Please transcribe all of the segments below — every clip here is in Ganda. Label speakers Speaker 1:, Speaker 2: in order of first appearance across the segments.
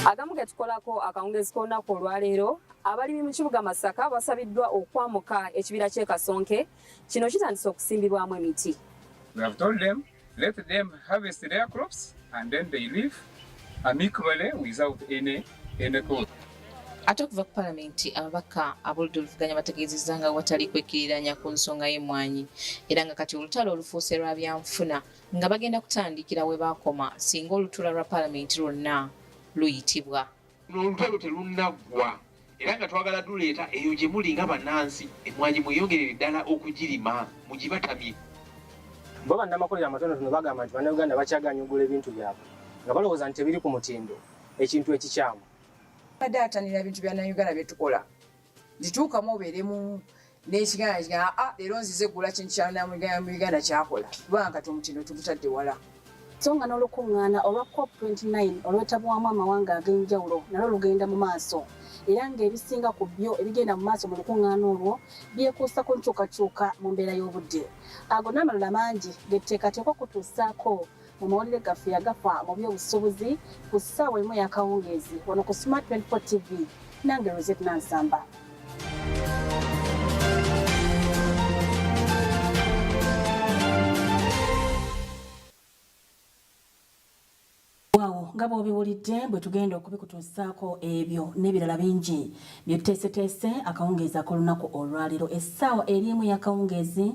Speaker 1: Agamu getukolako akawungezi k'olunaku olwaleero abalimi mu kibuga Masaka basabiddwa okwamuka ekibira ky'e Kasonke kino kitandise okusimbibwamu emiti.
Speaker 2: Let them harvest their crops and then they live amicably without any, any cause. Ate okuva
Speaker 3: ku palamenti ababaka ab'oludda oluvuganya bategeezezza nga watali kwekkiriranya ku nsonga y'emmwanyi era nga kati olutalo olufuuse lwa byanfuna nga bagenda kutandikira we baakoma singa olutuula lwa palamenti lwonna luyitibwa. Olutalo
Speaker 4: telunnaggwa era nga twagala duleeta eyo gye muli nga bannansi emmwanyi mweyongerere ddala okugirima mugibatamye.
Speaker 5: Bo bannamakolero amatonotono bagamba nti Bannayuganda bakyagaanyi okugula ebintu byabwe nga balowooza nti tebiri ku mutindo ekintu ekikyamu. Abadde
Speaker 6: atanira ebintu bya Nayuganda bye tukola. zituukamu obeere mu n'ekiganda kiga aa ah, leero nzize eggula kintu kyanamugana mu uganda kyakola kubanga kati omutindo tugutadde wala so nga
Speaker 1: n'olukuŋŋaana olwa cop 29 olwetabwamu amawanga ag'enjawulo nalwo lugenda mu maaso era ng'ebisinga ku byo ebigenda mu maaso mu lukuŋŋaana olwo byekuusa ku nkyukakyuka mu mbeera y'obudde ago n'amalala mangi getteekateeka okutuusaako mu mawulire gaffe yagafa mu by'obusuubuzi ku ssaawa emu ey'akawungeezi wano ku Smart 24 TV nange Rosette Nansamba. nga bw'obiwulidde bwe tugenda okubikutuusaako ebyo n'ebirala bingi bye tuteeseteese akawungeezi ak'olunaku olwaleero essaawa eri emu y'akawungeezi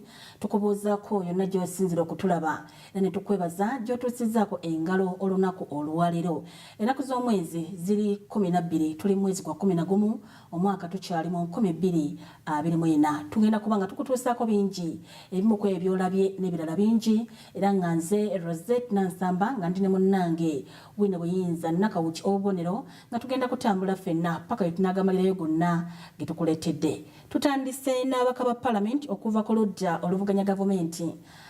Speaker 1: tukubuuzaako yonna gy'osinzira okutulaba era ne tukwebaza gy'otuusizaako engalo olunaku olwaleero. Enaku z'omwezi ziri kkumi na bbiri tuli mwezi gwa kkumi na gumu omwaka tukyali mu nkumi bbiri abiri mu ena. Tugenda kuba nga tukutuusaako bingi ebimu ku ebyo by'olabye n'ebirala bingi era nga nze Rosette Nansamba nga ndi ne munnange Wine Buyinza Nakawuki ow'obubonero nga tugenda kutambula ffenna paka lwe tunaagamalirayo gonna ge tukuleetedde. Tutandise n'ababaka ba palamenti okuva ku ludda oluvuganya gavumenti.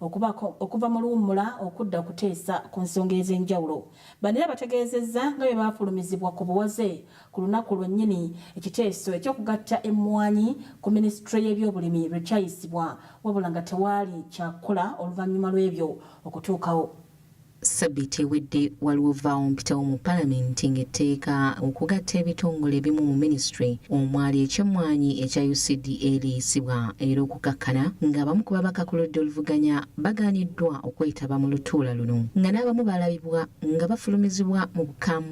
Speaker 1: okubako okuva mu luwummula okudda okuteesa ku nsonga ez'enjawulo. Bano era bategeezezza nga bwe baafulumizibwa ku buwaze ku lunaku lwennyini ekiteeso eky'okugatta emmwanyi ku minisitule y'ebyobulimi lwe kyayisibwa wabula nga tewaali kyakukola oluvannyuma lw'ebyo okutuukawo. Ssabbiiti
Speaker 3: ewedde waliwo vvaawo mpitawo mu palamenti ng'etteeka okugatta ebitongole ebimu mu minisitule omwali eky'emmwanyi ekya UCDA liyisibwa era okukakkana ng'abamu ku babaka ku ludda oluvuganya bagaaniddwa okwetaba mu lutuula luno nga n'abamu balabibwa nga bafulumizibwa mu bukambwe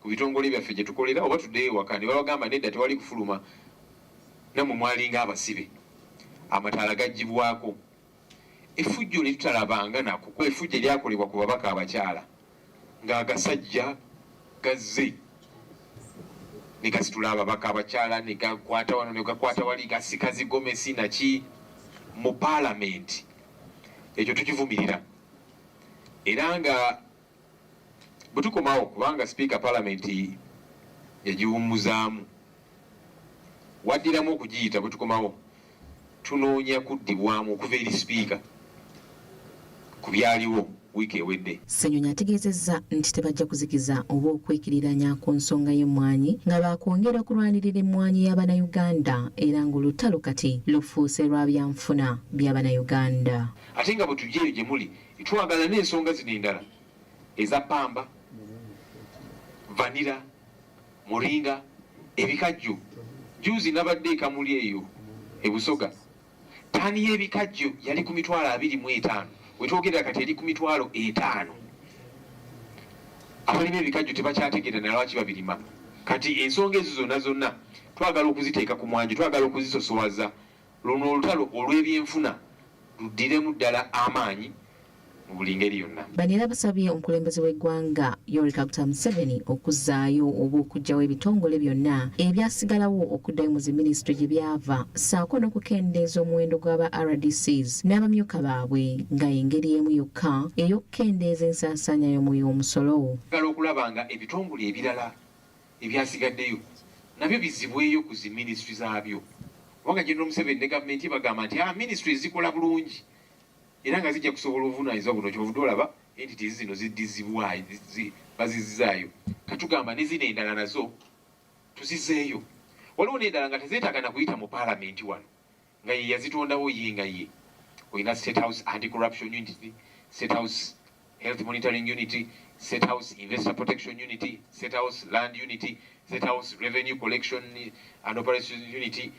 Speaker 4: ku bitongole byaffe gye tukolera oba tuddeyo ewaka ne babagamba nedda tewali kufuluma nammwe mwalinga abasibe amataala gaggyibwako efujjo lye tutalabanga nako kuba efujjo eryakolebwa ku babaka abakyala ng'agasajja gazze ne gasitula ababaka abakyala ne gakwata wano ne gakwata wali gasika zigomesi naki mu paalamenti ekyo tukivumirira era nga Bwe tukomawo kubanga Sipiika Palamenti yagiwummuzaamu, waddiramu okugiyita, bwe tukomawo tunoonya kuddibwamu okuva eri Sipiika ku byaliwo wiiki ewedde. Ssenyonyi ategeezezza
Speaker 3: nti tebajja kuzikiza oba okwekiriranya ku nsonga y'emmwanyi nga baakwongera kulwanirira emmwanyi ya Bannayuganda era ng'olutalo kati lufuuse lwa byanfuna bya Bannayuganda. Ate nga bwe tujja
Speaker 4: eyo gye muli, Twagala n'ensonga zino endala eza pamba, vanira, muringa, ebikajjo. Juuzi nabadde ekamuli eyo ebusoga taani y'ebikajjo yali ku mitwalo abiri mu etaano wetwogerera kati eri ku mitwalo etaano. Abalima ebikajjo tebakyategeera nalwaki babirima. Kati ensonga ezo zonna zonna twagala okuziteeka ku mwanjo, twagala okuzisosowaza. Luno olutalo olw'ebyenfuna luddiremu ddala amaanyi mu buli ngeri yonna. Bano era basabye
Speaker 3: omukulembeze w'eggwanga Yoweri Kaguta Museveni okuzzaayo oba okuggyawo ebitongole byonna ebyasigalawo okuddayo mu ziminisitule gye byava ssaako n'okukendeeza omuwendo gw'aba rdcs n'abamyuka baabwe nga y'engeri emu yokka ey'okukendeeza ensaasaanya y'omwoyo w'omusolo. Twagala okulaba nga
Speaker 4: ebitongole ebirala Ebyasigaddeyo nabyo bizzibweyo ku zi ministry zaabyo kubanga General Museveni ne gavumenti ye bagamba nti aa ah, ministries zikola bulungi era nga zijja kusobola obuvunaanyizibwa buno kyobuvudde olaba entities zino ziddizibwayo bazizzaayo katugamba ne zino endala nazo tuzizeeyo waliwo n'endala nga tezeetaaga na kuyita mu paalamenti wano nga ye yazitondawo ye nga ye olina state house anti corruption unit state house health monitoring unit state house investor protection unit state house land unit state house revenue collection and operation unit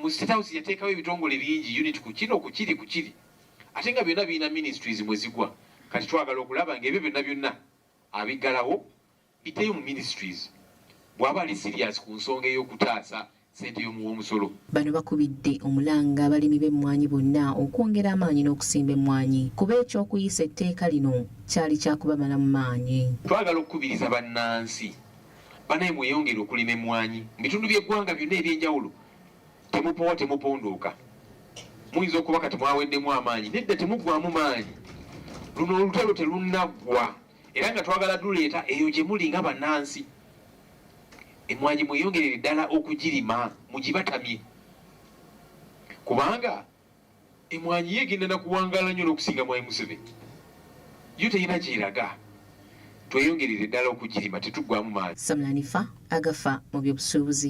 Speaker 4: mu state house yateekawo ebitongole bingi unit ku kino ku kiri ku kiri ate nga byonna birina ministries mwe zigwa kati twagala okulaba ngaebyo byonna byonna abiggalawo Biteum Ministries bwaba ali serious ku nsonga ey'okutaasa ssente y'omuwa omusolo. Bano bakubidde
Speaker 3: omulanga abalimi b'emmwanyi bonna okwongera amaanyi n'okusimba emmwanyi kuba eky'okuyisa etteeka lino kyali kya kubamalamu maanyi. Twagala okukubiriza
Speaker 4: bannansi banaye mweyongere okulima emmwanyi mu bitundu by'eggwanga byonna eby'enjawulo temupowa temupondooka muyinza okuba kati mwaweddemu amaanyi nedda temuggwamu maanyi luno olutalo telunnaggwa. era nga twagala duleeta eyo gye muli nga bannansi emmwanyi mweyongerere ddala okugirima mugibatamye kubanga emmwanyi ye egenda na kuwangaala nnyo n'okusinga mwayi museveni yo terina gyeraga tweyongerere ddala okugirima tetuggwamu maanyi samulanifa
Speaker 3: agafa mu byobusuubuzi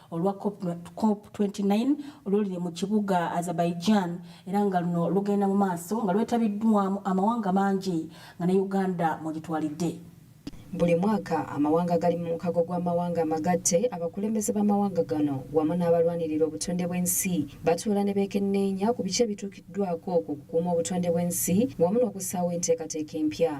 Speaker 1: olwa cop 29 oluli mu kibuga Azerbaijan era nga luno lugenda mu maaso nga lwetabiddwamu amawanga mangi nga ne Uganda mwegitwalidde. Buli
Speaker 3: mwaka amawanga agali mu mukago gw'amawanga amagatte abakulembeze b'amawanga gano wamu n'abalwanirira obutonde bw'ensi batuula ne beekenneenya ku biki ebituukiddwako ku kukuuma obutonde bw'ensi wamu n'okussaawo enteekateeka empya.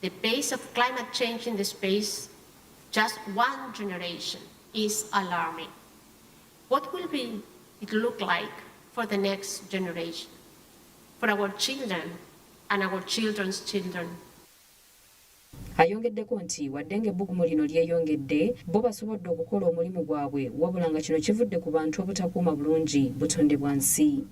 Speaker 7: The pace of climate change in the space just one generation is alarming. What will be it look like for the next generation, for our children and our children's children? Ayongeddeko
Speaker 3: nti wadde ng'ebbugumu lino lyeyongedde, bo basobodde okukola omulimu gwabwe wabula nga kino kivudde ku bantu obutakuuma bulungi butonde bwa nsi.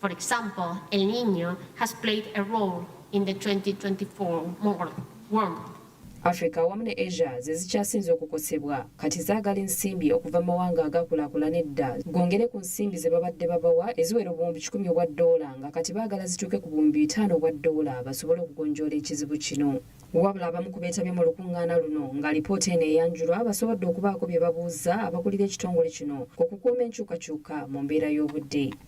Speaker 7: For example, El Niño has played a role in the 2024 world. Africa
Speaker 3: awamu ne Asia ze zikyasinze okukosebwa kati zaagala ensimbi okuva mu mawanga agakulaakulana edda gongere ku nsimbi ze babadde babawa eziwera obuwumbi kikumi obwa ddoola nga kati baagala zituuke ku buwumbi bitaano obwa ddoola basobole okugonjoola ekizibu kino. Wabula abamu ku beetabye mu lukuŋŋaana luno nga lipoota eno eyanjulwa basobodde okubaako bye babuuzza abakulira ekitongole kino ku kukuuma enkyukakyuka mu mbeera y'obudde.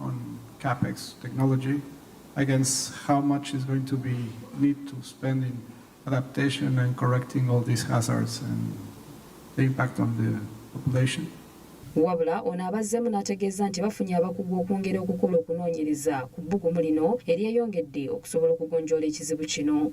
Speaker 8: on CapEx technology against how much is going to be need to spend in adaptation and correcting all these hazards and the impact on the population. wabula
Speaker 3: ono abazzemu n'ategeeza nti bafunye abakugu okwongera okukola okunoonyereza ku bbugumu lino eryeyongedde okusobola okugonjoola ekizibu kino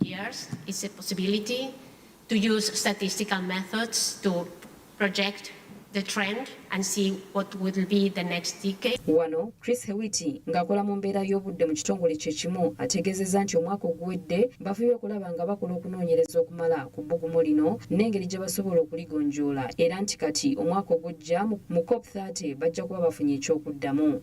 Speaker 7: years is a possibility to use statistical methods to project the trend and see what will be the next decade. Wano Chris Hewiti
Speaker 3: ng'akola mu mbeera y'obudde mu kitongole kye kimu ategeezezza nti omwaka oguwedde bafuye okulaba nga bakola okunoonyereza okumala ku bbugumu lino n'engeri gye basobola okuligonjoola era nti kati omwaka ogujja mu COP 30 bajja kuba bafunye eky'okuddamu.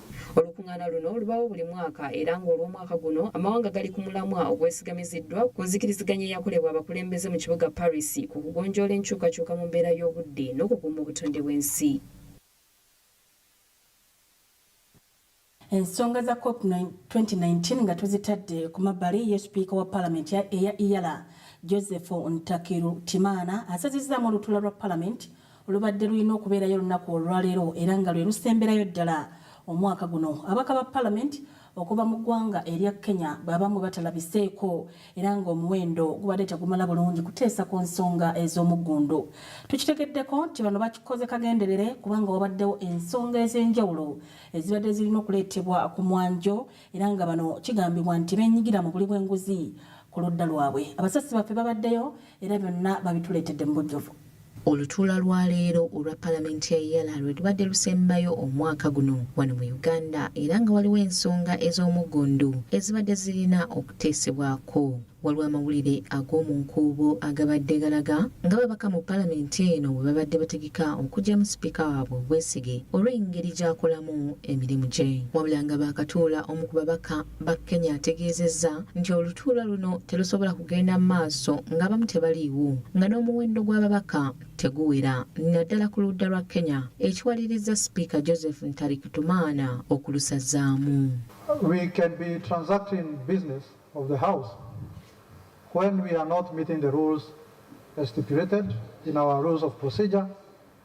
Speaker 7: Olukung'aana
Speaker 3: luno lubaawo buli mwaka era ng'olw'omwaka guno amawanga gali ku mulamwa ogwesigamiziddwa ku nzikiriziganya eyakolebwa abakulembeze mu kibuga Paris ku kugonjoola enkyukakyuka mu mbeera y'obudde n'okukuuma obutonde bw'ensi.
Speaker 1: Ensonga za cop 2019 nga tuzitadde ku mabbali ye sipiika wa palamenti eya Iyala Joseph Ntakirutimana asazizzaamu olutuula lwa palamenti Lubadde lulina okubeerayo olunaku olwaleero era nga lwe lusemberayo ddala omwaka guno abaka ba palamenti okuva mu ggwanga erya Kenya baabamu batalabiseeko era ng'omuwendo gubadde tegumala bulungi kuteesa ku nsonga ez'omuggundu. Tukitegeddeko nti bano bakikoze kagenderere kubanga wabaddewo ensonga ez'enjawulo ezibadde zirina okuleetebwa ku mwanjo era nga bano kigambibwa nti beenyigira mu buli bw'enguzi ku ludda lwabwe. Abasasi baffe babaddeyo era byonna babituleetedde mu bujjuvu. Olutuula
Speaker 3: lwa leero olwa palamenti ya Yala lwe lubadde lusembayo omwaka guno wano mu Uganda era nga waliwo ensonga ez'omuggundu ezibadde zirina okuteesebwako. Waliwo amawulire ag'omu nkuubo agabadde galaga nga babaka mu palamenti eno bwe babadde bategeka okuggyamu sipiika waabwe obwesige olw'engeri gy'akolamu emirimu gye. Wabula nga baakatuula omu ku babaka ba Kenya ategeezezza nti olutuula luno terusobola kugenda mu maaso ng'abamu tebaliiwo nga n'omuwendo gw'ababaka teguwera naddala ku ludda lwa Kenya ekiwalirizza sipiika Joseph Ntarikitumaana okulusazaamu. We
Speaker 9: can be transacting business of the house when we are not meeting the rules stipulated in our rules of procedure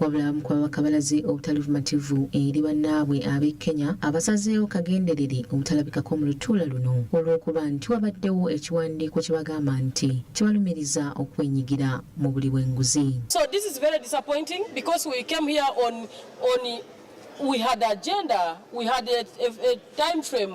Speaker 10: Wabulamu kwa bakabalaze
Speaker 3: obutali bumativu eri bannaabwe ab'e Kenya abasazeewo kagenderere obutalabikako mu lutuula luno olw'okuba nti wabaddewo ekiwandiiko kye bagamba nti kibalumiriza okwenyigira mu buli bw'enguzi. So this is very
Speaker 10: disappointing because we came here on, on we had agenda, we had a, a, a time frame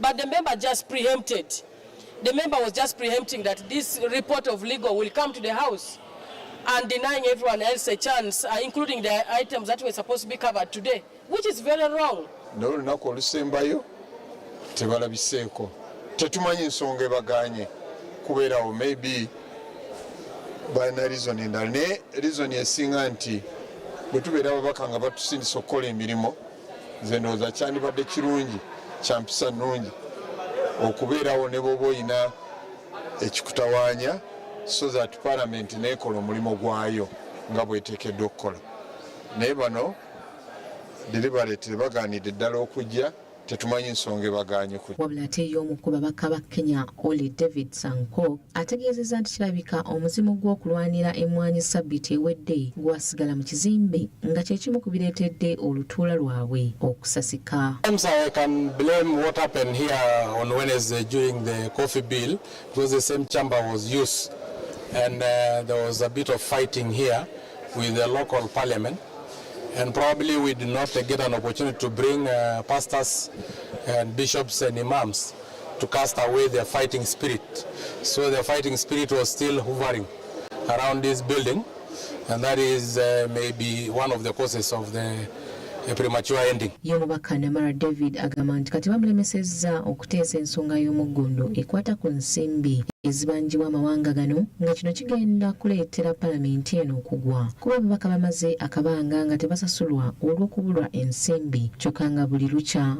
Speaker 10: But the member just preempted. The member was just preempting that this report of legal will come to the House and denying everyone else a chance, uh, including the items that were supposed to be covered today, which is very wrong. No, no,
Speaker 11: olusembayo tebalabiseeko tetumanyi ensonga ebaganye kubeerawo maybe balina reason endala naye reason esinga nti bwe tubeera ababaka nga batusindisa okukola emirimu nze ndowooza kyandibadde kirungi kyampisa nnungi okubeerawo ne bwoba olina ekikutawaanya so that palamenti neekola omulimu gwayo nga bweteekeddwa okukola naye bano deliberate bagaanidde ddala okujja tetumanyi nsonga ebaganye ku wabula ate ye omu ku
Speaker 3: babaka ba kenya oli david sankok ategeezezza nti kirabika omuzimu gw'okulwanira emmwanyi ssabbiiti ewedde gwasigala mu kizimbe nga kye kimu ku bireetedde olutuula lwabwe okusasika
Speaker 12: And uh, there was a bit of fighting here with the local parliament. And probably we did not get an opportunity to bring uh, pastors and bishops and imams. to cast away their fighting spirit. So their fighting spirit was still hovering around this building, and that is uh, maybe one of the causes of the ye mubaka namara
Speaker 3: david agamba nti kati bamulemesezza okuteesa ensonga y'omuggundu ekwata ku nsimbi ezibanjibwa amawanga gano nga kino kigenda kuleetera palamenti eno okugwa kuba ababaka bamaze akabanga nga tebasasulwa olw'okubulwa ensimbi kyokka nga buli lukya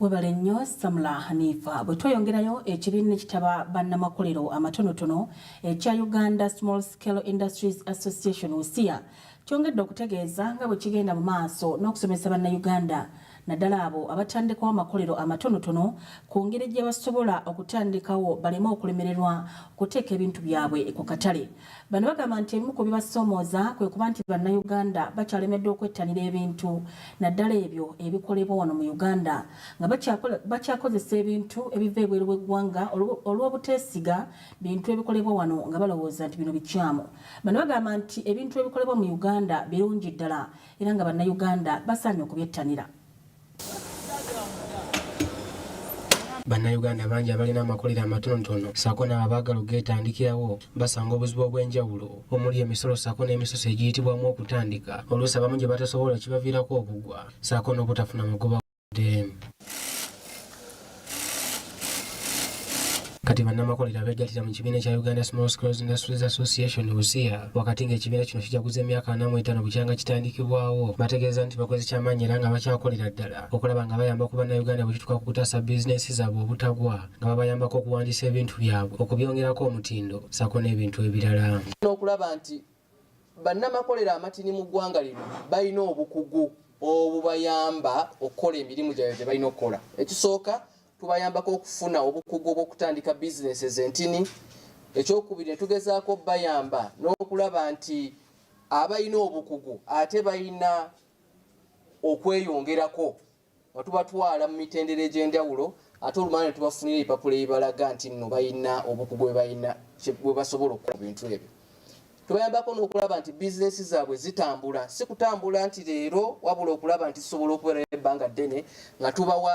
Speaker 1: Webale nnyo Samula Hanifa. Bwe tweyongerayo ekibiina ekitaba bannamakolero amatonotono ekya Uganda Small Scale Industries Association USIA kyongedde okutegeeza nga bwe kigenda mu maaso n'okusomesa Bannayuganda naddala abo abatandikawo amakolero amatonotono ku ngeri gye basobola okutandikawo baleme okulemererwa okuteeka ebintu byabwe ku katale. Bano bagamba nti ebimu ku bibasoomooza kwe kuba nti Bannayuganda bakyalemeddwa okwettanira ebintu naddala ebyo ebikolebwa wano mu Uganda nga bakyakozesa ebintu ebiva ebweru w'eggwanga olw'obuteesiga bintu ebikolebwa wano nga balowooza nti bino bikyamu. Bano bagamba nti ebintu ebikolebwa mu Uganda birungi ddala era nga Bannayuganda basaanye okubyettanira.
Speaker 5: Bannayuganda bangi abalina amakolero amatonotono ssaako n'abo abaagala okugeetandikirawo basanga obuzibu obw'enjawulo omuli emisolo ssaako n'emisoso egiyitibwamu okutandika oluusi abamu gye batasobola kibaviirako okugwa ssaako n'obutafuna magoba wadde. Kati bannamakolero abeegattira mu kibiina kya Uganda Small Scales Industries Association USIA wakati ng'ekibiina kino kijaguza emyaka ana mu etaano bukyanga kitandikibwawo bategeeza nti bakoze kyamaanyi era nga bakyakolera ddala okulaba nga bayamba ku bannayuganda bwe kituuka ku kutaasa bizinensi zaabwe obutagwa nga babayambako okuwandiisa ebintu byabwe okubyongerako omutindo ssaako n'ebintu ebirala n'okulaba nti
Speaker 13: Bannamakolero amatini mu ggwanga lino balina obukugu obubayamba okukola emirimu gyabwe gye balina okukola. Ekisooka tubayambako okufuna obukugu obw'okutandika bizinensi ez'entini. Ekyokubiri ne tugezaako okubayamba n'okulaba nti abalina obukugu ate balina okweyongerako. nga tubatwala mu mitendera egy'enjawulo ate olumala ne tubafunira ebipapula ebibalaga nti nno balina obukugu bwe balina bwe basobola okukola bintu ebyo tubayambako n'okulaba nti bizinesi zaabwe zitambula si kutambula nti leero wabula okulaba nti zisobola okubeera ebbanga ddene nga tubawa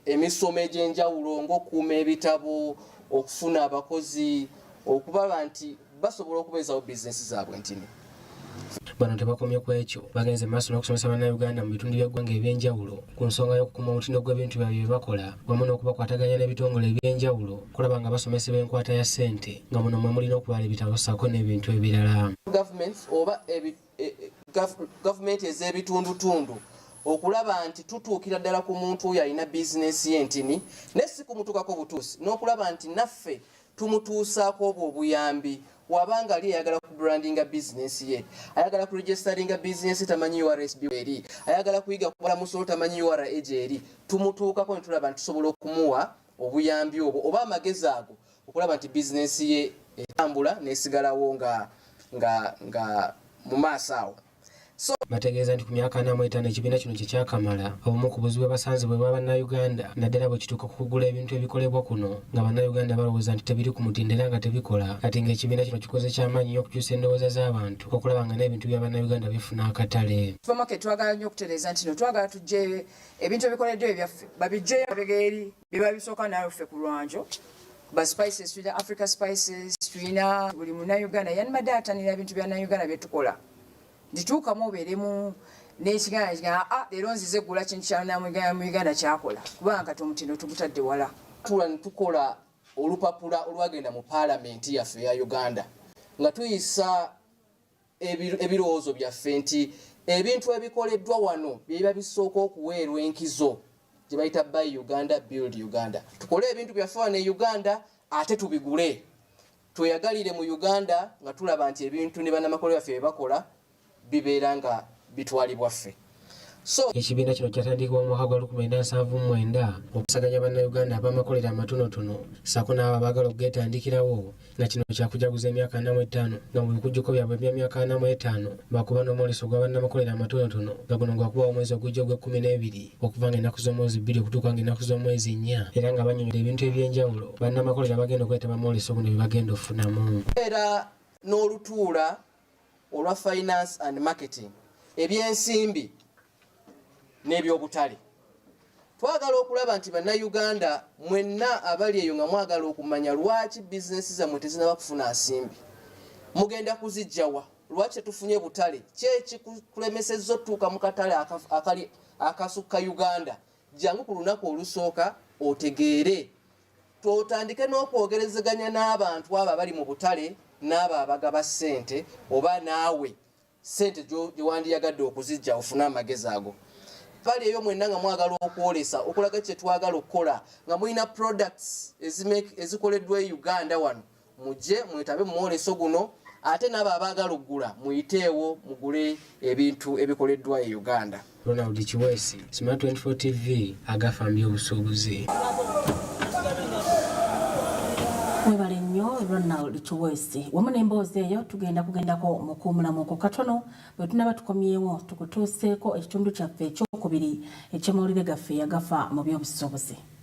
Speaker 13: emisomo egy'enjawulo ng'okuuma ebitabo okufuna abakozi okulaba nti basobola okubeezawo bizinesi zaabwe ntini bano
Speaker 5: tebakomye ku ekyo bagenze mu maaso n'okusomesa bannayuganda mu bitundu by'eggwanga eby'enjawulo ku nsonga y'okukuuma omutindo gw'ebintu byabwe bye bakola wamu n'okubakwataganya n'ebitongole eby'enjawulo okulaba nga basomesebwa enkwata ya ssente nga muno mwe muli n'okubala ebitabo ssaako n'ebintu ebirala gavumenti oba e,
Speaker 13: e, gavumenti ez'ebitundutundu okulaba nti tutuukira ddala ku muntu oyo alina bizinensi y'entini naye si kumutuukako butuusi n'okulaba nti naffe tumutuusaako obwo obuyambi waba nga ali ayagala ku brandinga bizinesi ye ayagala ku registeringa bizinesi tamanyi ursb eri ayagala kuyiga kubala musolo tamanyi ura egi eri tumutuukako ne tulaba nti tusobola okumuwa obuyambi obwo oba amagezi ago okulaba nti bizinesi ye etambula nesigalawo nga nga nga mu maaso awo Bategeeza
Speaker 5: nti ku myaka ana mu etaano ekibiina kino kye kyakamala, obumu ku buzibu bwe basanze bwe bwa Bannayuganda naddala bwe kituuka ku kugula ebintu ebikolebwa kuno nga Bannayuganda balowooza nti tebiri ku mutindo era nga tebikola kati ng'ekibiina kino kikoze kya maanyi nnyo okukyusa endowooza z'abantu okulaba nga n'ebintu bya Bannayuganda bifuna akatale. Supermarket twagala nnyo
Speaker 6: okutereeza nti no twagala tuggyeyo ebintu ebikoleddwa ebyaffe babiggyeyo emabega eri biba bisooka naawe ffe ku lwanjo ba spices tulina africa spices tulina buli munauganda yanibadde atanira ebintu bya nauganda byetukola ndituukamu obeeremu nekiganda kigaa ah, leero nzize gula kintu kyanamuganda kyakola kubanga kati omutindo tugutadde wala tula netukola
Speaker 13: olupapula olwagenda mu paalamenti yaffe eya uganda nga tuyisa ebirowoozo byaffe nti ebintu ebikoleddwa wano byebiba bisooka okuweerwa enkizo gye bayita by uganda build uganda tukole ebintu byaffe wano e uganda ate tubigule tweyagalire mu uganda nga tulaba nti ebintu ne banamakolero byaffe byebakola bibeera nga bitwalibwa ffe So,
Speaker 5: ekibiina kino kyatandikibwa mu mwaka gwa 1979 okusaganya bannayuganda ab'amakolero amatonotono ssaako n'abo abaagala okugeetandikirawo nga kino kyakujaguza emyaka ana mu etaano nga mu bikujjuko byabwe bya myaka ana mu etaano bakuba n'omwoleso gwa bannamakolero amatonotono nga guno gwakubawo omwezi ogujja ogw'ekkumi n'ebiri okuva nga ennaku z'omwezi bbiri okutuuka nga ennaku z'omwezi nnya era nga banyonyola ebintu eby'enjawulo bannamakolero abagenda okwetaba mwoleso guno bye bagenda okufunamu era
Speaker 13: n'olutuula olwa finance and marketing, ebyensimbi n'ebyobutale. Twagala okulaba nti bannayuganda mwenna abali eyo nga mwagala okumanya lwaki bizinesi zammwe tezinaba kufuna nsimbi, mugenda kuzijjawa? Lwaki tetufunye butale? Kyekikulemesezza otutuuka mu katale akali akasukka Uganda? Jangu ku lunaku olusooka otegeere. twotandike n'okwogerezeganya n'abantu abo abali mu butale n'abo abagaba ssente oba naawe ssente gyewandiyagadde okuzijja ofune amagezi ago pale eyo mwenna nga mwagala okwolesa okulaga kyetwagala okukola nga mulina products ezikoleddwa e uganda wano mujje mwetabe mu mwoleso guno ate n'abo abaagala okugula muyiteewo mugule ebintu ebikoleddwa e uganda ronald kiwesi
Speaker 5: smart 24 tv agafambye obusuubuzi
Speaker 1: webale nnyo ronald kiwesi wamu n'emboozi eyo tugenda kugendako mu kuumulamu ku katono bwe tunaba tukomyewo tukutuuseeko ekitundu kyaffe ekyokubiri eky'amawulire gaffe yagafa mu by'obusuubuzi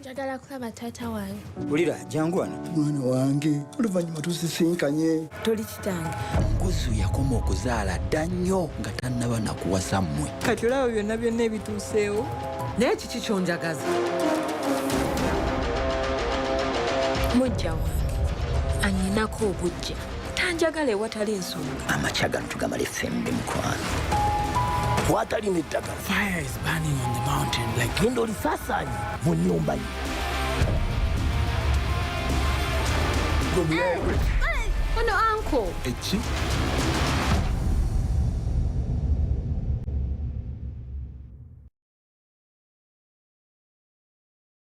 Speaker 14: njagala
Speaker 15: kulaba taata wange wulira jangu wano
Speaker 14: mwana wange oluvannyuma tusisinkanye toli kitange
Speaker 15: nkuzu yakoma
Speaker 14: okuzaala dda nnyo nga tannaba nakuwasa mmwe kati olaba byonna byonna
Speaker 15: ebituuseewo naye kiki
Speaker 16: kyonjagaza
Speaker 15: mujja wange anyinako obujja tanjagala ewatali nsonga amakya gano tugamala
Speaker 14: effembi mukwano kwata lino eddagala genda olisasaanye mu nyumba ye
Speaker 15: ono anko eki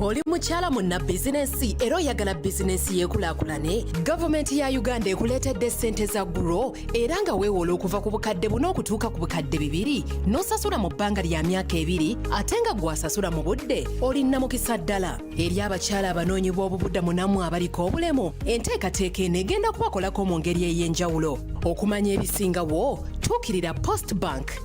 Speaker 4: oli mukyala munna bizinensi era oyagala bizinensi yeekulakulane gavumenti ya uganda ekuleetedde ssente za guro era nga weewola okuva ku bukadde buna okutuuka ku bukadde bibiri n'osasula mu bbanga lya myaka ebiri ate nga gwasasula mu budde olinna mukisa ddala eri abakyala abanoonyi b'obubudamu nammwe abaliko obulemu enteekateeka eno egenda kubakolako mu ngeri ey'enjawulo okumanya ebisingawo tuukirira post bank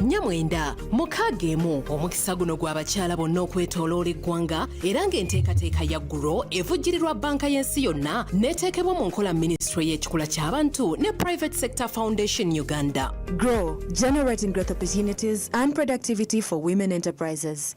Speaker 4: nyamwenda mukaaga emu omukisa guno gwa bakyala bonna okwetoloola eggwanga era ng'enteekateeka ya guro evujjirirwa banka y'ensi yonna n'eteekebwa mu nkola minisitule y'ekikula ky'abantu ne private sector foundation uganda grow
Speaker 17: generating growth opportunities and productivity for women enterprises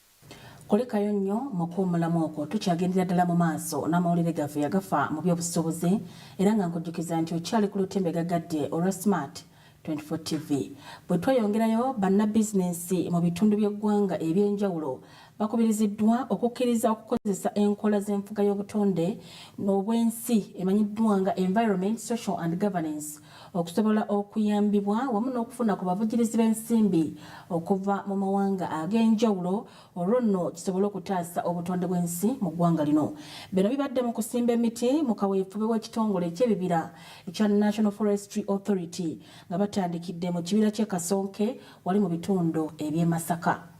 Speaker 1: Kulikayo nnyo mu kuwummulamu okwo, tukyagendera ddala mu maaso n'amawulire gaffe agafa mu by'obusuubuzi era nga nkujjukiza nti okyali ku lutimbe gaggadde olwa Smart 24 TV. Bwe tweyongerayo, bannabizinensi mu bitundu by'eggwanga eby'enjawulo bakubiriziddwa okukkiriza okukozesa enkola z'enfuga y'obutonde n'obwensi emanyiddwa nga Environment, Social and Governance okusobola okuyambibwa wamu n'okufuna ku bavujirizi b'ensimbi okuva mu mawanga ag'enjawulo olwo nno kisobole okutaasa obutonde bw'ensi mu ggwanga lino. Bino bibadde mu kusimba emiti mu kaweefube w'ekitongole eky'ebibira ekya National Forestry Authority nga batandikidde mu kibira ky'e Kasonke wali mu bitundu eby'e Masaka.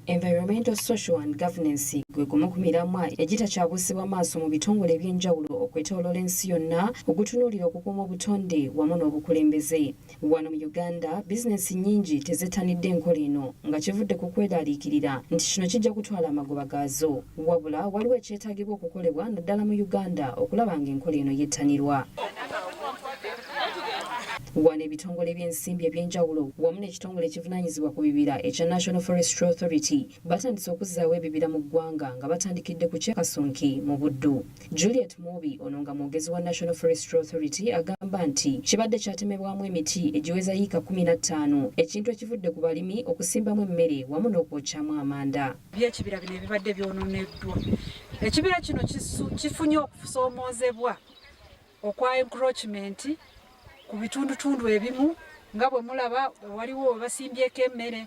Speaker 3: Environmental, Social and Governance gwe gumu ku miramwa egitakyabuusibwa maaso mu bitongole eby'enjawulo okwetooloola ensi yonna ogutunuulira okukuuma obutonde wamu n'obukulembeze. Wano mu Uganda, bizinensi nnyingi tezettanidde nkola eno nga kivudde ku kweraaliikirira nti kino kijja kutwala amagoba gaazo. Wabula waliwo ekyetaagibwa okukolebwa naddala mu Uganda okulaba ng'enkola eno yettanirwa. Wano ebitongole by'ensimbi eby'enjawulo wamu n'ekitongole ekivunaanyizibwa ku bibira ekya National Forestry Authority batandise okuzzaawo ebibira mu ggwanga nga batandikidde ku ky'e Kasonki mu Buddu. Juliet Mwobi ono nga mwogezi wa National Forestry Authority agamba nti kibadde kyatemebwamu emiti egiweza yiika kkumi na ttaano ekintu ekivudde ku balimi okusimbamu emmere wamu n'okwokyamu amanda. By'ekibira bino ebibadde
Speaker 18: byononeddwa. Ekibira kino kifunye okusoomoozebwa okwa encroachment ku bitundutundu ebimu nga bwe mulaba waliwo webasimbyeko emmere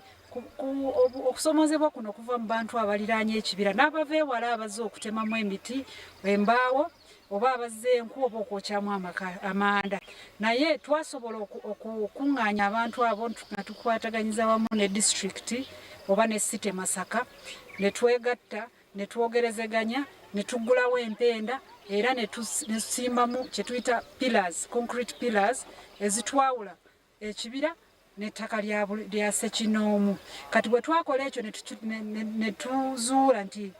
Speaker 18: okusomozebwa kuno kuva mu bantu abaliraanye ekibira n'abava ewala abazze okutemamu emiti embaawo oba abazze enku oba okwokyamu amanda naye twasobola okukuŋŋaanya abantu abo nga tukwataganyiza wamu ne disitulikiti oba ne site masaka ne twegatta ne twogerezeganya ne tuggulawo empenda era ne tusimbamu kye tuyita pillars concrete pillars ezitwawula ekibira n'ettaka lya ssekinoomu kati bwe twakola ekyo ne tuzuula nti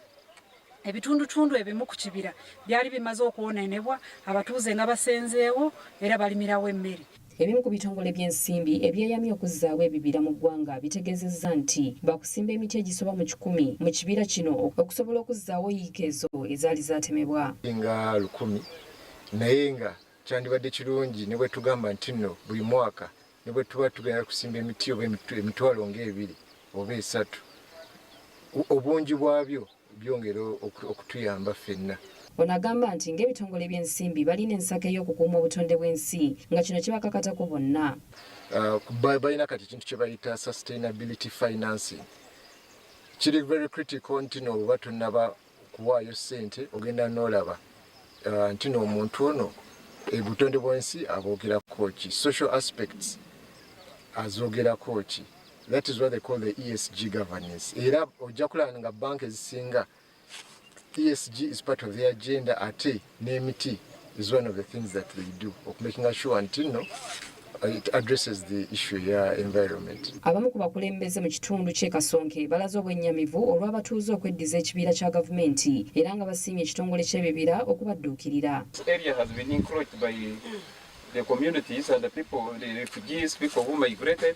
Speaker 18: ebitundutundu ebimu ku kibira byali bimaze okwonoonebwa abatuuze nga basenzeewo era balimirawo emmere Ebimu ku bitongole
Speaker 3: by'ensimbi ebyeyamye okuzzaawo ebibira mu ggwanga bitegeezezza nti baakusimba emiti egisoba mu kikumi mu kibira kino okusobola okuzzaawo yiika ezo ezaali zaatemebwa. nga lukumi
Speaker 19: naye nga kyandibadde kirungi ne bwe tugamba nti nno buli mwaka ne bwe tuba tugenda kusimba emiti oba emitwalo ng'ebiri oba esatu obungi bwabyo byongera okutuyamba ffenna.
Speaker 3: Ono agamba nti ng'ebitongole by'ensimbi balina ensako ey'okukuuma obutonde bw'ensi nga kino kibakakatako bonna. Uh,
Speaker 19: balina kati ekintu kye bayita sustainability financing kiri very critical nti no oba tunaba kuwaayo ssente ogenda n'olaba uh, nti no omuntu ono ebutonde bwensi aboogerako ki social aspects azoogerako ki that is what they call the esg governance era ojja kulaba nga banka ezisinga esg is part of the agenda ate n'emiti is one of the things that they do okumakinga sure nti no it addresses the issue ya environment abamu ku bakulembeze
Speaker 3: mu kitundu ky'e kasonke balaze obwennyamivu olw'abatuuze okweddiza ekibiira kya gavumenti era nga basiimye ekitongole ky'ebibira okubadduukirira the communities
Speaker 7: and the people, the refugees, people who migrated.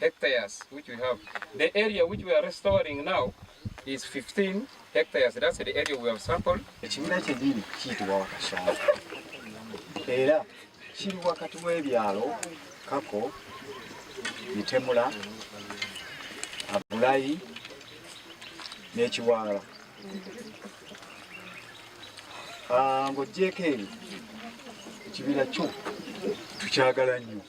Speaker 7: hectares which we have. The area which we are restoring now is 15 hectares. That's the area we have sampled. Ekibira kyennyini kiyitibwa Wakashonga
Speaker 20: era kiri wakati w'ebyalo Kako, Mitemula, Abulayi n'ekiwaala. Ah, ng'oggyeeko ebyo ekibira kyo tukyagala nnyo.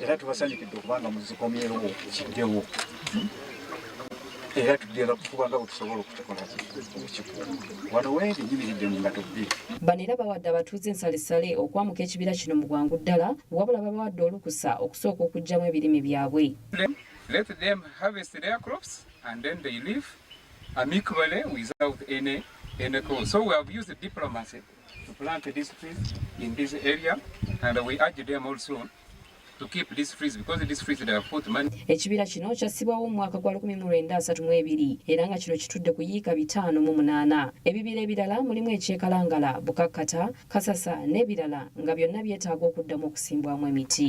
Speaker 20: era tubasanyukidde okubanga muzikomyerowo kiddewo era tugenda kukubanga bwetusobola okukikola wano wendi nyimiridde mu ngato bbiri bano era bawadde
Speaker 3: abatuuze ensalisale okwamuka ekibira kino mu bwangu ddala wabula babawadde olukusa okusooka okugyamu ebirime byabwe Let them
Speaker 7: harvest their crops and then they leave amicably without any, any cause. So we have used diplomacy to plant these trees in this area and we urge them also ekibira kino kyassibwawo
Speaker 3: mu mwaka gwa 1932 era nga kino kitudde ku yiika bitaano mu munaana ebibira ebirala mulimu ekyekalangala bukakkata kasasa n'ebirala nga byonna byetaaga okuddamu okusimbwamu emiti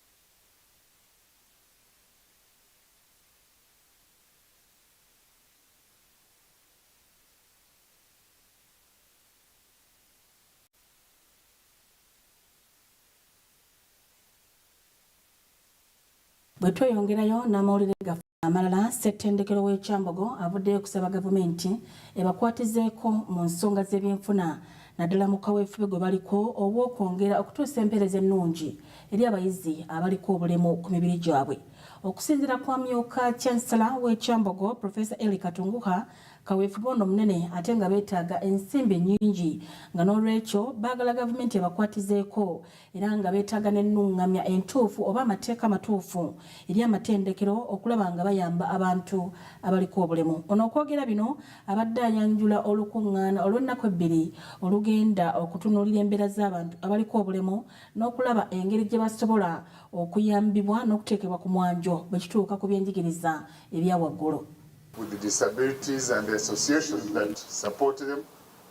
Speaker 1: bwe tweyongerayo n'amawulire gaffe amalala ssettendekero w'ekyambogo avuddeyo okusaba gavumenti ebakwatizeeko mu nsonga z'ebyenfuna naddala mu kaweefube gwe baliko obw'okwongera okutuusa empeereza ennungi eri abayizi abaliko obulemu ku mibiri gyabwe okusinzira kwa myuka chansala w'ekyambogo profesa eli katunguha kaweefube ono munene ate nga beetaaga ensimbi nnyingi nga n'olwekyo baagala gavumenti ebakwatizeeko era nga beetaaga n'ennungamya entuufu oba amateeka amatuufu eri amatendekero okulaba nga bayamba abantu abaliko obulemu. Ono okwogera bino abadde ayanjula olukungaana olw'ennaku ebbiri olugenda okutunuulira embeera z'abantu abaliko obulemu n'okulaba engeri gye basobola okuyambibwa n'okuteekebwa ku mwanjo bwe kituuka ku byenjigiriza ebya waggulu.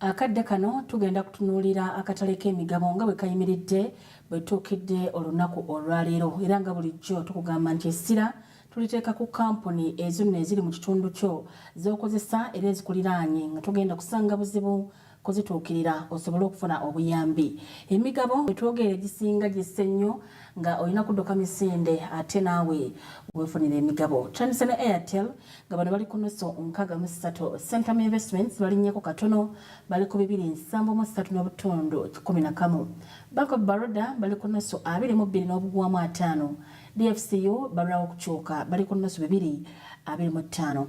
Speaker 1: Akadde kano tugenda kutunuulira akatale k'emigabo nga bwe kayimiridde bwe tuukidde olunaku olwaleero era nga bulijjo tukugamba nti essira tuliteeka ku kampuni ezo nno eziri mu kitundu kyo z'okozesa era ezikuliraanye nga togenda kusanga buzibu kuzituukirira osobole okufuna obuyambi. Emigabo bwe twogera egisinga gisse nnyo nga olina kudduka misinde ate naawe wefunira emigabo. Chandise ne Airtel nga bano bali ku nusu nkaaga mu ssatu. Centum Investments balinnyeko katono bali ku bibiri nsanvu mu ssatu n'obutundu kikumi na kamu. Bank of Baroda bali ku nusu abiri mu bbiri n'obugwamu ataano. DFCU balwawo okukyuka bali ku nusu bibiri abiri mu ttaano.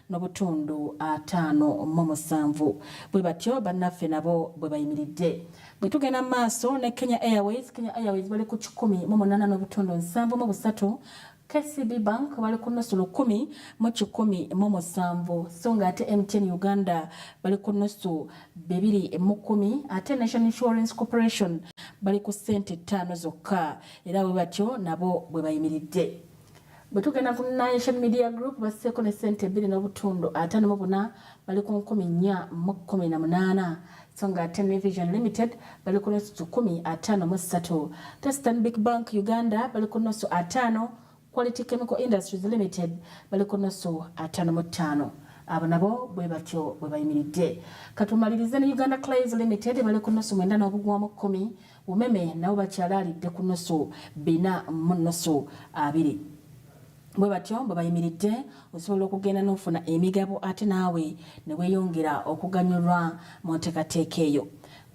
Speaker 1: nobutundu ataano mu musanvu bwe batyo bannaffe nabo bwe bayimiridde. Bwe tugenda mu maaso ne Kenya Airways, Kenya Airways bali ku kikumi mu munaana n'obutundu nsanvu mu busatu KCB Bank bali ku nusu lukumi mu kikumi mu musanvu so nga ate MTN Uganda bali ku nusu bibiri mu kumi ate National Insurance Corporation bali ku ssente ttaano zokka era bwe batyo nabo bwe bayimiridde. Bwe tugenda ku Nation Media Group basseeko ne ssente ebbiri n'obutundu ataano mu buna bali ku nkumi nnya mu kkumi na munaana so nga ate New Vision Limited bali ku nusu kikumi ataano mu ssatu te Stanbic Bank Uganda bali ku nusu ataano Quality Chemical Industries Limited bali ku nusu ataano mu ttaano abo nabo bwe batyo bwe bayimiridde katumalirize ne Uganda Clays Limited bali ku nusu mwenda n'obugwamu kkumi Umeme nabo bakyalaalidde ku nnusu bina mu nnusu abiri. Bwe batyo bwe bayimiridde, osobola okugenda n'ofuna emigabo ate naawe ne weeyongera okuganyulwa mu nteekateeka eyo.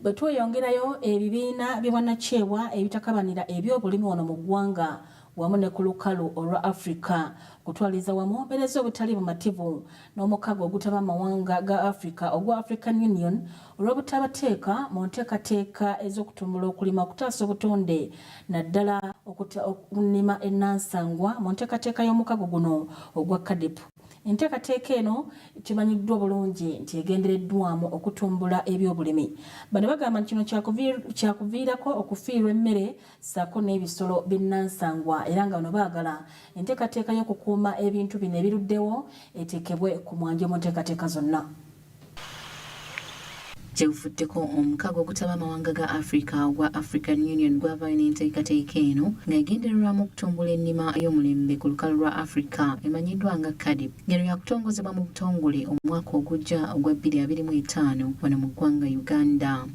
Speaker 1: Bwe tweyongerayo, ebibiina by'obwannakyewa ebitakabanira ebyobulimi wano mu ggwanga wamu ne ku lukalu olwa Afrika okutwaliza wamu mpereza obutali bumativu n'omukago ogutaba mawanga ga Afrika ogwa African Union olw'obutabateeka mu nteekateeka ez'okutumbula okulima okutaasa obutonde naddala okunnima ennansangwa mu nteekateeka y'omukago guno ogwa CADIP. Enteekateeka eno kimanyiddwa obulungi nti egendereddwamu okutumbula ebyobulimi. Bano bagamba nti kino kyakuviirako okufiirwa emmere ssaako n'ebisolo binnansangwa era nga bano baagala enteekateeka y'okukuuma ebintu bino ebiruddewo eteekebwe ku mwanjo mu nteekateeka zonna. Gye
Speaker 3: buvuddeko omukago ogutaba amawanga ga Africa ogwa African Union gwavaayo n'enteekateeka eno nga egendererwamu okutumbula ennima y'omulembe ku lukalu lwa Africa emanyiddwa nga CAADP ng'eno yakutongozebwa mu butongole omwaka ogujja ogwa bbiri abiri mu etaano wano mu ggwanga Uganda.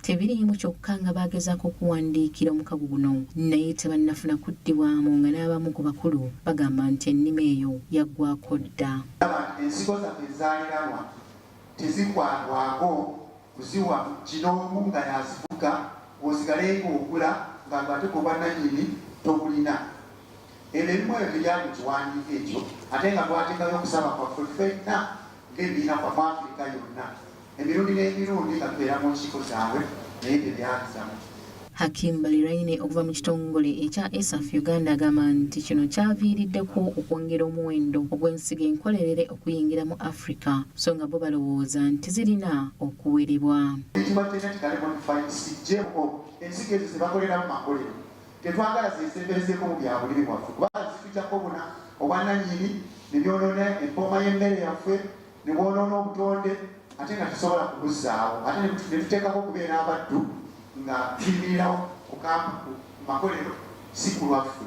Speaker 3: Tebiriimu kyokka nga baagezaako okuwandiikira omukago guno naye tebannafuna kuddibwamu nga n'abamu ku bakulu bagamba nti ennima eyo yaggwaako dda. Ndaba nti ensigo zaffe
Speaker 8: ezaaliranwa tezikwatwako kuziwa kinoomu nga y'azifuga osigale ng'ogula nga gw'ate gwe bwannannyini togulina. Ebyo ebimu ebyo tebya mu kiwandiiko ekyo ate nga twateekayo okusaba kwaffe ffenna ng'ebibiina kwaffe Afrika yonna. Emirundi n'emirundi babeera mu nkiiko zaabwe naye tebyabizamu. Hakim
Speaker 3: Baliraine okuva mu kitongole ekya ESAF Uganda agamba nti kino kyaviiriddeko okwongera omuwendo ogw'ensigo enkolerere okuyingira mu Africa so nga bo balowooza nti zirina okuwerebwa. ensigo ezo zebakoleramu
Speaker 8: makolero tetwagala zesemberezeeko mu byabulimi bwaffe kubanga zitujako obuna obwananyini nebyonoona empooma y'emmere yaffe ne bwonoona obutonde ate nga tusobola kubuzzaawo ate ne tuteekako okubeera abaddu nga tuyimirirawo ku makolero si ku lwaffe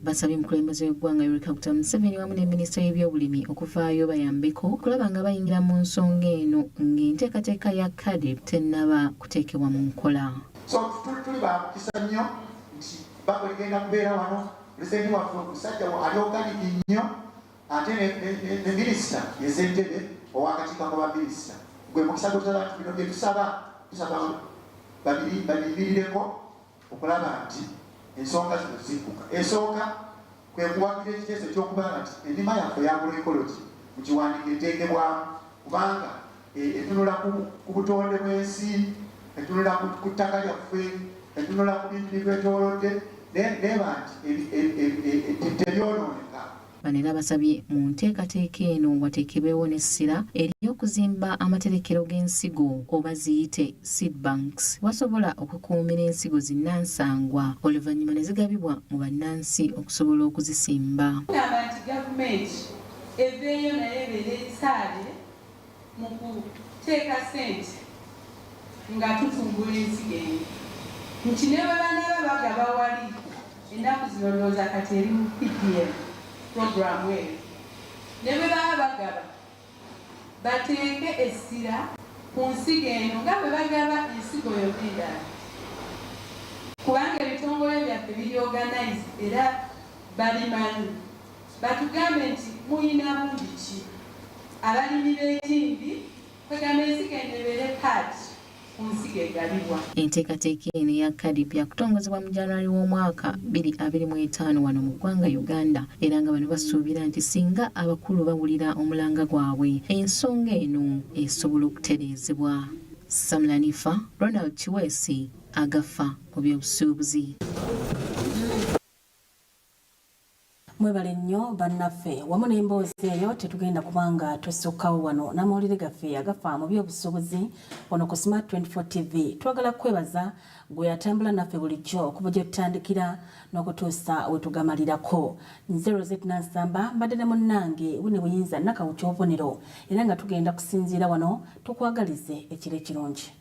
Speaker 8: basabye omukulembeze
Speaker 3: w'eggwanga Yoweri Kaguta Museveni wamu ne minisita y'ebyobulimi okuvaayo bayambeko okulaba nga bayingira mu nsonga eno ng'enteekateeka ya kadeb tennaba kuteekebwa mu nkola so tuli
Speaker 8: bamukisa nnyo nti bakuligenda kubeera wano pulezidenti waffe omusajja ali oganiki nnyo ate ne minisita ezentebe owakakiiko ka baminisita gwe mukisa gutala nti bino byetusaba tusaba babiribirireko okulaba nti ensonga zino zikuka esooka kwekuwagira ekiteeso ekyokuba nti enima yaffe yagula ekologi mukiwandiiko eteekebwamu kubanga e, etunula ku butonde bw'ensi etunula ku ttaka lyaffe etunula ku bintu bibetolodde neba nti tebyonooneka bano era basabye
Speaker 3: mu nteekateeka eno wateekebwewo n'essira ery'okuzimba amaterekero g'ensigo oba ziyite seed banks wasobola okukuumira ensigo zinnansangwa oluvannyuma ne zigabibwa mu bannansi okusobola okuzisimba
Speaker 21: gavumenti eveeyo naye ebeere esaabye mu kuteeka ssente nga tutumbula ensigo eno nti ne bwe banaaba bagaba wali ennaku zino ndowooza kati eri mu PDM pulogulaamu eyo ne bwe baba bagaba bateeke essira ku nsigo eno nga bwe bagaba ensigo yonna endala kubanga ebitongole byaffe biri organize era babimanyi. Batugambe nti muyina bungi ki? Abalimi b'etimbi kwegamba ensigo eno ebeere part ku nsigo egabibwa. Enteekateeka eno
Speaker 3: eya KADIP yakutongozebwa mu January w'omwaka bbiri abiri mu etaano wano mu ggwanga Uganda era nga bano basuubira nti singa abakulu bawulira omulanga gwabwe ensonga eno esobola okutereezebwa. Sam Lanifa, Ronald Kiweesi, Agafa mu by'obusuubuzi.
Speaker 1: Mwebale nnyo bannaffe wamu n'emboozi eyo tetugenda kuba nga tusukkawo wano n'amawulire gaffe agafa mu by'obusuubuzi wano ku Smart 24 TV. Twagala kukwebaza gwe atambula naffe bulijjo okuva gye tutandikira n'okutuusa we tugamalirako. Nze Rosette Nansamba mbadde ne munnange Winnie Buyinza Nakawuki obubonero era nga tugenda kusinziira wano tukwagalize ekiro ekirungi.